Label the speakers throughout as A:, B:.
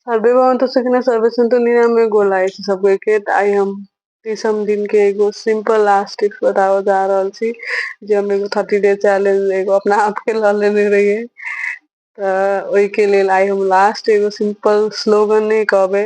A: survey भवन्तु सुखिनः सर्वे सन्तु निरामय गोल लागै छै सबके के तऽ आइ हम तीसम दिन के एगो सिंपल लास्ट टिप्स बताबऽ जा रहल छी जे हम एगो थर्टी डे चैलेंज एगो अपना आप के लऽ लेने रहियै तऽ ओहिके लेल आइ हम लास्ट एगो सिंपल स्लोगन नहि कहबै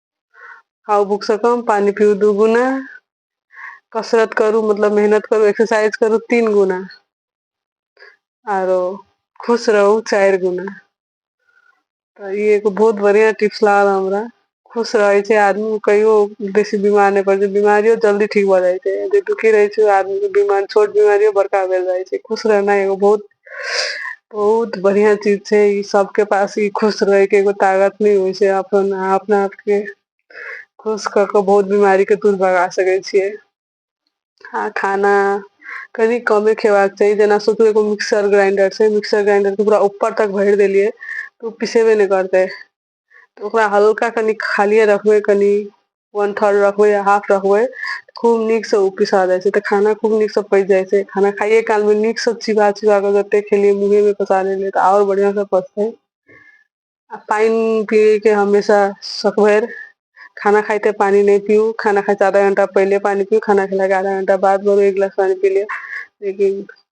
A: खाउ भूखसँ कम पानि पीउ दू गुना कसरत करू मतलब मेहनत करू एक्सरसाइज करू तीन गुना आरो खुश रहू चारि गुना तऽ ई एगो बहुत बढ़िआँ टिप्स लागल हमरा खुश रहै छै आदमी कहियो बेसी बीमार नहि पड़ै छै बीमारियो जल्दी ठीक भऽ जाइ छै जे दुखी रहै छै आदमीके बीमार छोट बीमारियो बड़का भेल जाइ छै खुश रहनाइ एगो बहुत बहुत बढ़िया चीज छै ई सबके पास ई खुश रहे के एगो ताकत नहि होइ छै अपन अहाँ अपना आपके खुश कऽ कऽ बहुत बीमारी के दूर भगा सकै छियै आ खाना कनी कमे खेबाक चाही जेना सोचू एगो मिक्सर ग्राइंडर छै मिक्सर ग्राइंडर के पूरा ऊपर तक भरि देलियै तऽ ओ पिसेबे नहि करतै तऽ ओकरा हल्का कनि खालिए रखबै कनि वन थर्ड रखबै या हाफ रखबै खूब नीकसँ ओ पिसा जाइ छै तऽ खाना खूब नीकसँ पचि जाइ छै खाना खाइए कालमे नीकसँ चिबा चिबा कऽ जतेक खेलियै मुँहेमे पसा लेलियै तऽ आओर बढ़िआँसँ पचतै आ पानि पियैके हमेशा सकभरि खाना खाइते पानि नहि पीऊ खाना खाइसँ आधा घंटा पहिले पानि पीऊ खाना खेलाके आधा घंटा बाद एक गिलास पानि पी लिअ लेकिन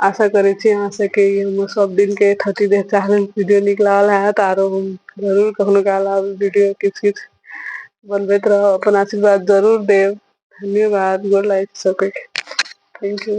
A: आशा करे छी अहाँ सबके हम सब दिन के थर्टी डेज चैलेंज वीडियो नीक लागल हैत आरो हम जरूर कखनो काल आब वीडियो किछ किछ बनबैत रहब अपन आशीर्वाद जरूर देब धन्यवाद गोर लागै छी सबके थैंक यू